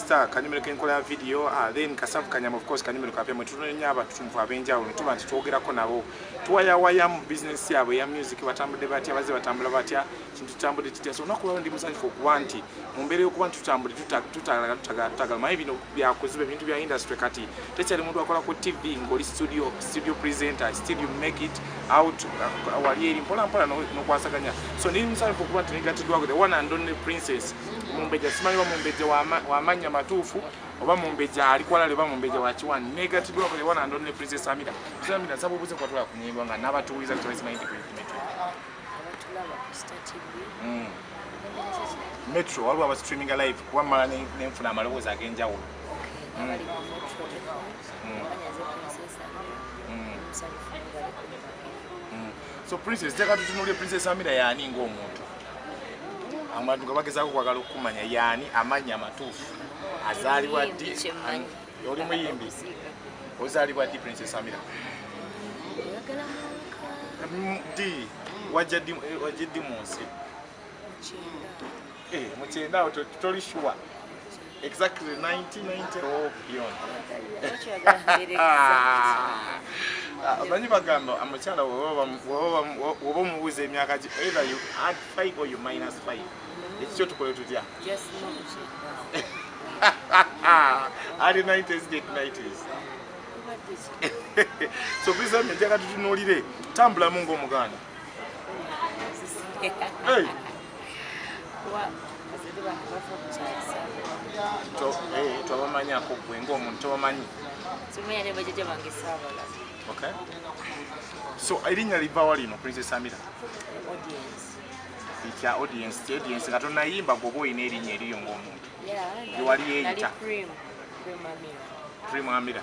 star kanyumiro kenkola ya video uh, then kasavu kanyama of course kanyumiro kapya mwetunenya abatunvu abenjawulo tuba nti twogerako nabo tuwayawayamu bizinesi yabwe ya music batambudde batya baze batambula batya kintu tutambudde kitya so olunaku lwalo ndi musanyufu okuba nti mu mbeera y'okuba nti tutambudde tutagala tutagala tutagala maye bino byakuziba ebintu bya industry kati tekyali muntu akola ku tv ng'oli studio studio presenter still you make it out uh, wali eri mpolampola n'okwasaganya so ndi musanyufu okuba nti negatiddwako the one and only princess mumbejja simanyi oba mumbejja wamanya matuufu oba mumbejja ali kwalale oba mumbejja wakiwani negatidwa kule wana ndo ne princess amira princess amira sabu buze kwa tula kunyimba nga naba tuwiza kutola simanyi ndi kuyipi metro abatulaba ku star tv mm. metro waliwo aba streaming live kuba mala nenfuna amalowoozi ag'enjawulo mm. mm. so princess teka tutunulire princess amira yani ngaomuntu abantu nga bagezaako okwagala okukumanya yaani amannya amatuufu azaalibwa ddi oli muyimbi ozaalibwa ddi prince samira ddi wajja ddi mu nsi mukyendaawo toli shuwa Exactly 1990 or beyond. Abanyi bagamba amukyala woba omubuuza emyaka gi either you add 5 or you minus 5. Ekikyo tukole tutya? Just know it. Early 90s, late 90s. so bizambe njagatutunulire tambulamu ng'omuganda tobamanyako gwe ngaomuntu tobamanyi so erinnya livawa lino princess amira ekya audience ti audience nga tonayimba gwoba olina erinnya eriyo ngaomuntu ewali yeyita primamira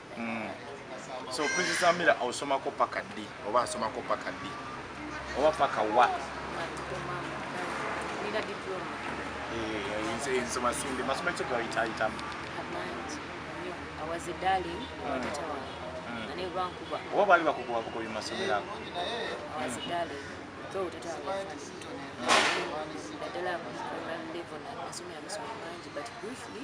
mm. so prince samira osomako paka ddi oba asomako paka ddi oba paka wa eh, nsoma sinde masoma ekyo gawitayitamu oba baali bakukuba bukobi masomero ago naddala level nasomera masomero mangi but briefly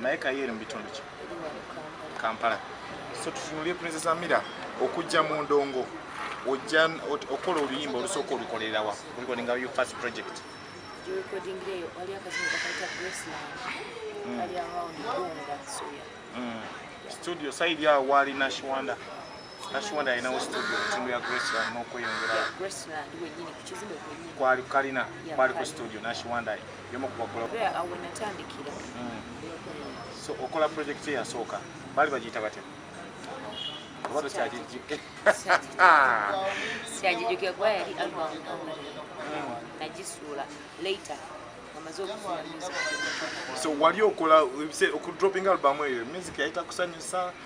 naye kayo eri mu bitundu ki kampala so tutunulire princess amira okujja mu ndongo ojja okola oluyimba olusooka olukolerawa olukolinga yo first project studio saidi awo waali nashiwanda Tashiwanda alinawo studio timu ya Graceland n'okweyongera kwali kalina kwali ku studio Nashiwanda yomu ku bakola hmm. so okola project eyasooka baali bagiyita batya oba tokyagijjuke kyagijjuke kuba yali album hmm. nagisuula later so wali okola okudroping album eyo music yayita kusanyusa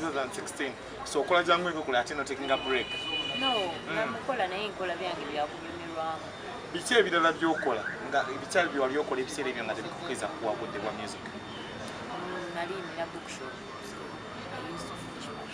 2016 so okola jangu eko kula atino taking a break no mm. namukola naye nkola byange byakunyumirwamu biki ebirala byokola nga ebikyali byewali okola ebiseera ebyo nga tebikukiza kuwa budde bwa music mm, nali nina bookshop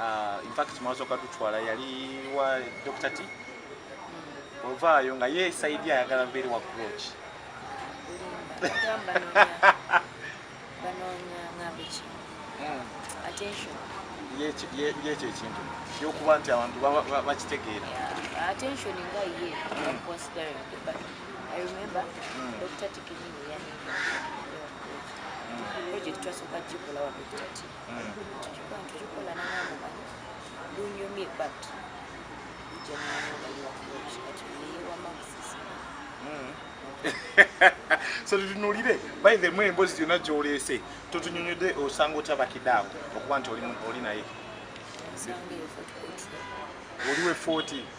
Ah, in fact mwasoka tutwala yali wa Dr. T ovaayo nga ye saidi ayagala mbeere wa groch yekyo ekintu kyokuba nti abantu bakitegeera so tutunulire by the way embozi yona gyoleese totunyonyode osanga otya bakidaawo okuba nti oli naye oliwe 40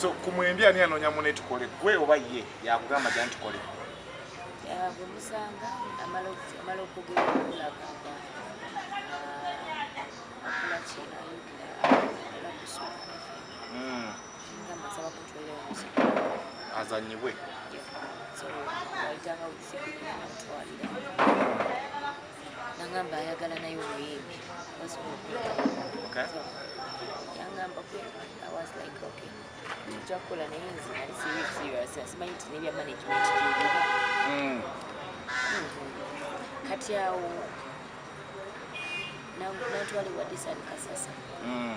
so ku mwembi ani anoonya mune tukole gwe oba ye yakugamba gya ntukole bwemusanga amala okugera okulaga azanyibwe nangamba ayagala naye omuyimbi yangamba okjakukola naye nze nali sirisi asimanyi nti nebya management mm. kati awo natwala ewa disani kasasa mm.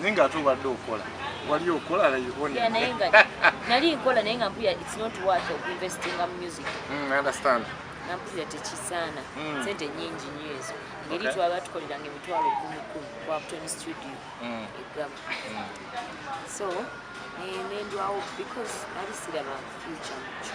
naye nga ate obadde okola wali okola nali nkola naye nga mpuya its not worth of investing in music mm, understand nampulira tekisaana mm. sente nyingi nyo ezo ngeri twaba tukoleranga emitwalo kumi kumi ku apton studio mm. egama mm. so nendwawo because nali siraba future mukyo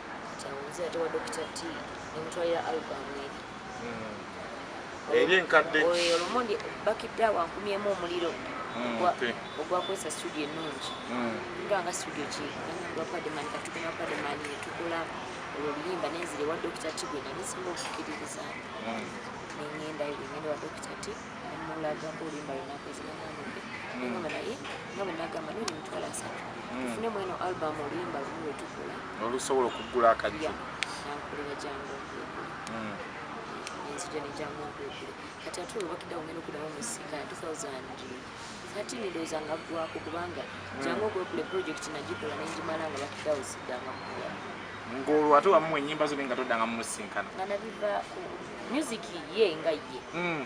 kyawunzira tewa dokita t nemutwalira album eri hmm. eri enkadde oyo olumondi bakidde awo ankumyemu omuliro hmm, ogwakozesa studio ennungi hmm. nga nga studio ki nanyamba pademani katugena pademani netukola olwo oluyimba nenzire wa dokita t gwe nali singa okukiririza nengenda ngenda wa dokita t nemulagako oluyimba lwenakozinanambe nengamba naye nga bwenagamba noli mutwala asatu tufune mweno album oluyimba lumu lwetukola nolusobola okuggula akajjo kati ate olubakidde awo ngenda okudamu musika 2013 ndowooza nga ggwako kubanga hmm. jangu okwekula project nagikola nengimala nga bakidawo siddanga kuya ngolwo ate wamuwa enyimba zone nga todanga mumusinkana nga nabivaako music ye nga ye hmm.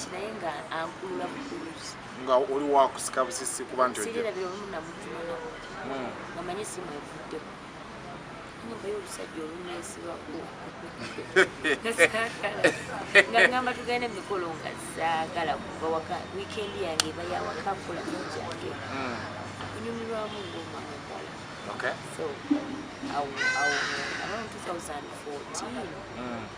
kinaye nga ankulula bukuluzi nga oli wakusika busisi kuba nti sirabira olumu namutuma nabo hmm. nga manye simwevuddeko nyumba y'olusajja olunesibaku nga ngamba tugenda emikolo nga zaagala kuva waka wiikendi yange eba yawaka kola kyange hmm. kunyumirwamu ng'omwana omuwala so awo awo around 2014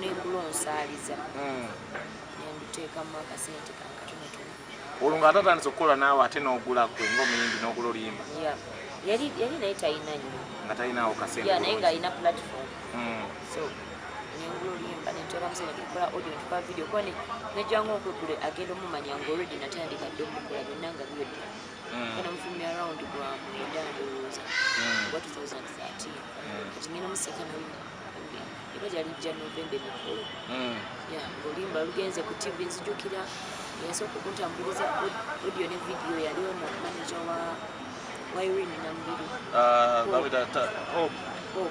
nengula onsaaliza hmm. nenduteekamu akasente kankatonotono olwo nga atatandise okukola naawe ate n'ogula gwe ngaomuyimbi n'ogula oluyimba yali naye talina nyo nga talinawo kasente naye ng'alina platform hmm. so nengula oluyimba nenteekamusente tukola audio netukola video kuba nejjanga okwegule agenda omumanya ngaolwedi natandika dde omukola byonna nga byodda mm. era mufumbi around gwa mwenda ndowooza mm. oba 2013 mm. kati ngenda museka namu era gyali jja novembe mikulu ya ng'oluyimba lugenze ku tv nzijukira yasooka okuntambuliza audio ne video yali ono manaja wa wa irene namubiri ah, oh. oh.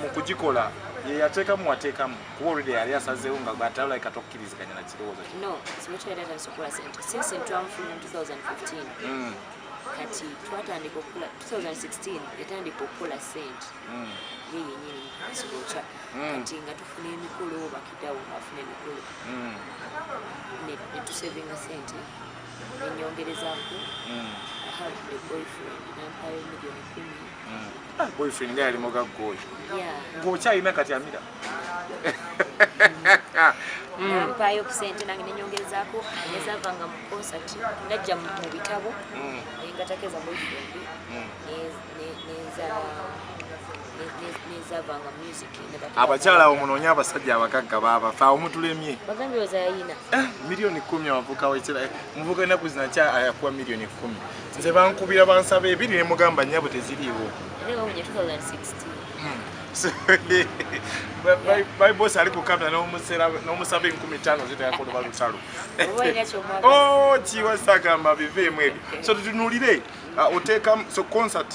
mu kugikola ye yateekamu wateekamu kuba olwedde yali asazeewo nga gwatalai kati okukiriziganya na kirowoozo kye no simukyayatatanisokula sente since ntwamufuna mu 2015 mm. kati twatandika okukola 2016 yatandika okukola sente mm. ye yenyini sikokya mm. kati nga tufuna emikolo bakidawo afuna emikolo netusevinga sente enyongerezaku ahae boyfriend nampayo milioni kumi Ah, boyfriend nga yali mugagga oyo ng'okyalina kati amira mpaayo ku sente nange nenyongerezaako nezava nga mu concert najja mu bitabo mm. nengatakeza boyfriend mm. nezava nga music abakyala abo munoonye abasajja abagagga baabafa awo mutulemye eh, miliyoni kumi abavuka wekira eh, muvuka enaku zinakya ayakuwa miliyoni kumi nze bankubira bansaba ebiri ne mugamba nyabo teziriiwo baibos ali kukamera nomusaba enkumi tano zitayakoloba lutalo kiwasagamba biveemu ebyo so tutunulire uh, oteekamu so concert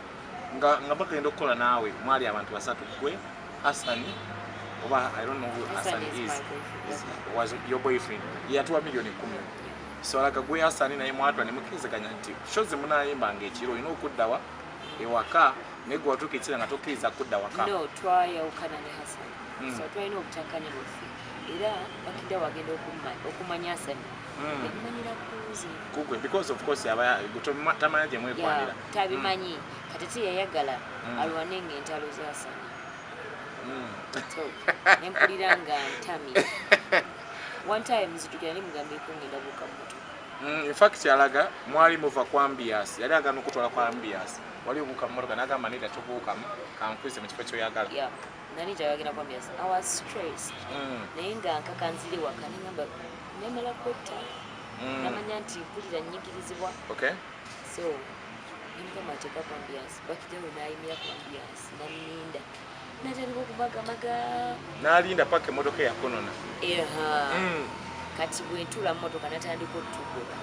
nga nga bagenda okukola naawe mwali abantu basatu gwe Hassan oba I don't know who Hassan is, is, is was your boyfriend yatuwa milioni kumi swalaga gwe Hassan naye mwatwa ne mukirizaganya nti show ze munayimba nga ekiro olina okuddawa ewaka naye gwe watuuka ekira nga tokkiriza kudda waka no twayawukana ne Hassan mm. so twalina obutakanya bwaffe era bakidda wagenda okumanya Hassan mm. ebimanyira kuze kugwe because of course aba tamanya gye mwekwanira tabimanyi mm. kati ti yayagala mm. alwane nga entalo zasana mm. nempulira nga ntami one time zitukira ni mugambeko ngenda buka mutu mm, in fact alaga mwali muva kwa mbias yali agana okutwala kwa mbias wali obuuka mumotoka nagamba neda tobuukamu kankwize mu kifo kyoyagala yeah. nali njagagenda kwa myezi i was stressed mm. naye nga nkaka nzire waka nengamba nemala kwetta mm. namanya nti mpulira nyigirizibwa okay. so nemugamba nti eva kwambiyansi bakijawo nayimira kwambiyansi naninda natandika okubagamaga nalinda paka emotoka eyakonona eha mm. kati bwentula mumotoka natandika otugoba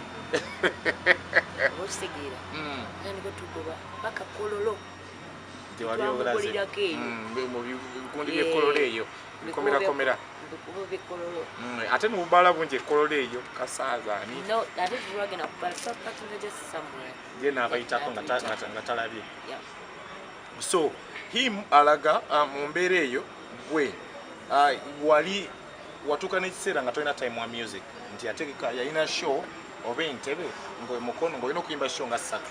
okitegeera mm. natandika otugoba paka kololo tewaliobulazimubulirako eyo mm, mubikundi byekololo eyo bikomerakomera mm, ate nubala bungi ekololo eyo kasaazani gena abayitako nga talabye so him alaga uh, mu mbeera eyo gwe uh, wali watuuka n'ekiseera nga tolina time wa music nti ategeka yalina show oba entebe ngomukono ngaolina okuyimba show nga ssatu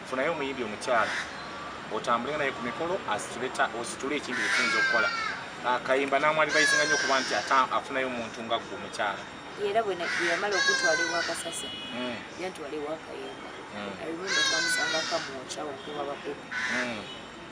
funayo omuyimbi omukyala otambule naye ku mikolo ositule ekintu ekiyinza okukola ah, kayimba namwali bayisinga nyo okuba nti ate afunayo omuntu nga gwe omukyala era bweyamala okutwala ewakasasa hmm. yantwala ewakayimba hmm. i remember twamusanga kamwokyawo okuba bakuku hmm.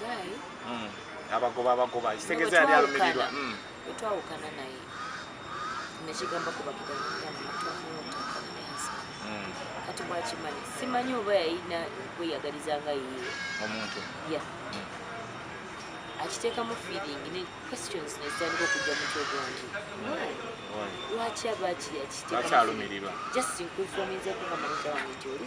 guy mm abagoba abagoba isegeza yali alumirirwa mm twawukana naye nekigamba kuba kigamba mm. kati bwakimanyi simanyi oba yayina kweyagaliza nga yiye omuntu ya mm. akiteekamu feeling ne questions nezitandika okujja mutwe gwange lwaki aba kiyakiteekamu just nkufominzekugamba mutawange gyoli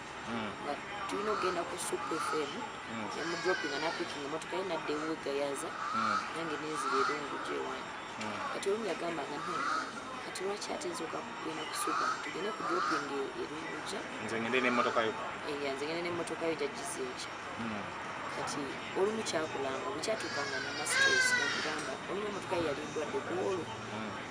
tulina okugenda ku supu fm yamudropinga napikinga emotoka ye nadda ewegayaza nange nenzira erungu gyewange kati olumu yagamba nga nti kati lwaki ate nsoka kugenda kusuga tugende ku dropping erunguja nze ngende n'emmotoka yo eya nze ngende n'emmotoka yo jajjiza enkya hmm. kati olumu kyakulanga bwekyatuukanga namastress nakugamba olumu emmotoka ye yali ndwadde kuwolo hmm.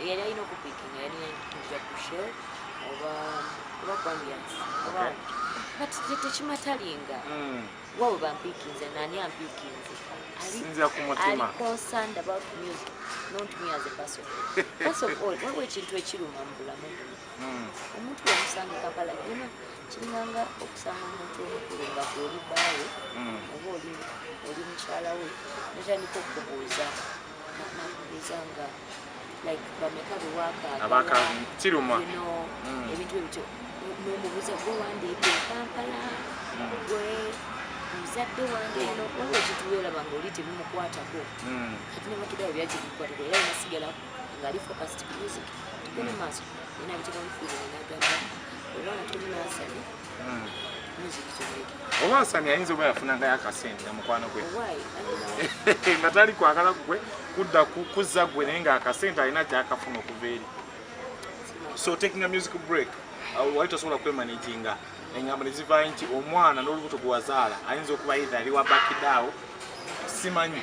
eyali alina okupikinga yali yandikija ku shel oba oba kwambians oba but tekimatalinga hmm. wabo bampikinze nani ampikinze sinzira ku mutima ali concerned about music not me as a person first of all waliwo ekintu ekiruma mu bulamu buno hmm. omuntu wamusanga kampala yona kiringanga okusanga omuntu omukulu nga gweoli baawe hmm. oba oli mukyala we notandika okubuuza abakakiruma ebintu ebityo nomubuza gwe wandiika ekampala gwe muzadde wange eno waba ekituweraba nga oli tebimukwatako hmm. kati nemakidao byakikukwatako era nasigala ngaali focust music tugende maaso ena bitekamufiire nagamba olwana tuli nasale oba asani ayinza oba yafunangayo akasente namukwano gwe nga tali kwagala kugwe kudda kuzza gwe naye nga akasente alina kyakafuna okuva eri so taking a music break wali tosobola kwemanaginga engambo nezivayo nti omwana n'olubuto gwewazaala ayinza okuba idha ali wa bakidaawo simanyi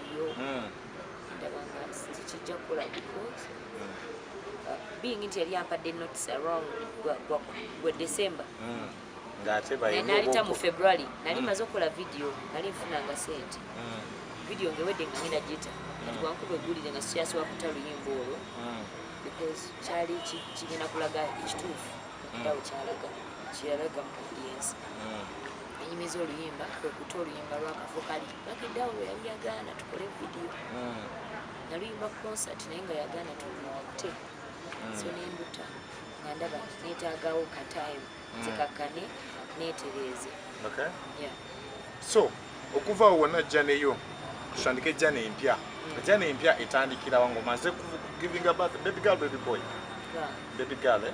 yo ndaba nga tekijja kukola because uh, being nti yali ampadde notice around gwe december hmm. nalita mu february nali hmm. maze okukola video nali nfunanga sente hmm. video ngewedde nga ngenda gita kati wankuba egulire nga sikyasobola kuta luyimba olwo because kyali kigenda kulaga ekituufu okudawo kyalaga kyeyalaga mu audience enyumiza oluyimba kwekuta oluyimba lwakafu kali Bakidawo bwe yali yagaana tukole vidiyo hmm. naluyimba concert naye nga yagaana tumuwate hmm. so nenduta nga ndaba netagawo katime hmm. zikakkane netereeze so okuvaawo wona jjaneyo tutandike ejjana empya ejjana empya etandikirawa ngaomaze kugivinga baby girl baby boy baby girl eh?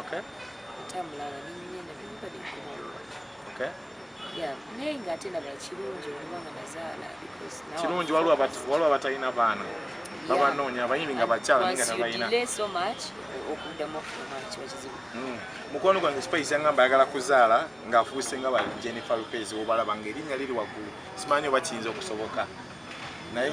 okay tambulanga ninyinya na bimba de kubalwa okay yeah naye nga ate naba kirungi oluba nga nazaala because now kirungi waliwo abatu waliwo abatalina baana babanoonya abayimbi nga bakyala naye nga tabalina so much okuddamu okufuna kiba kizibu hmm. mukwano gwange spice yangamba ayagala kuzaala ng'afuuse nga ba jennifer lopez obalaba nga erinnya liri waggulu simanyi oba kiyinza okusoboka naye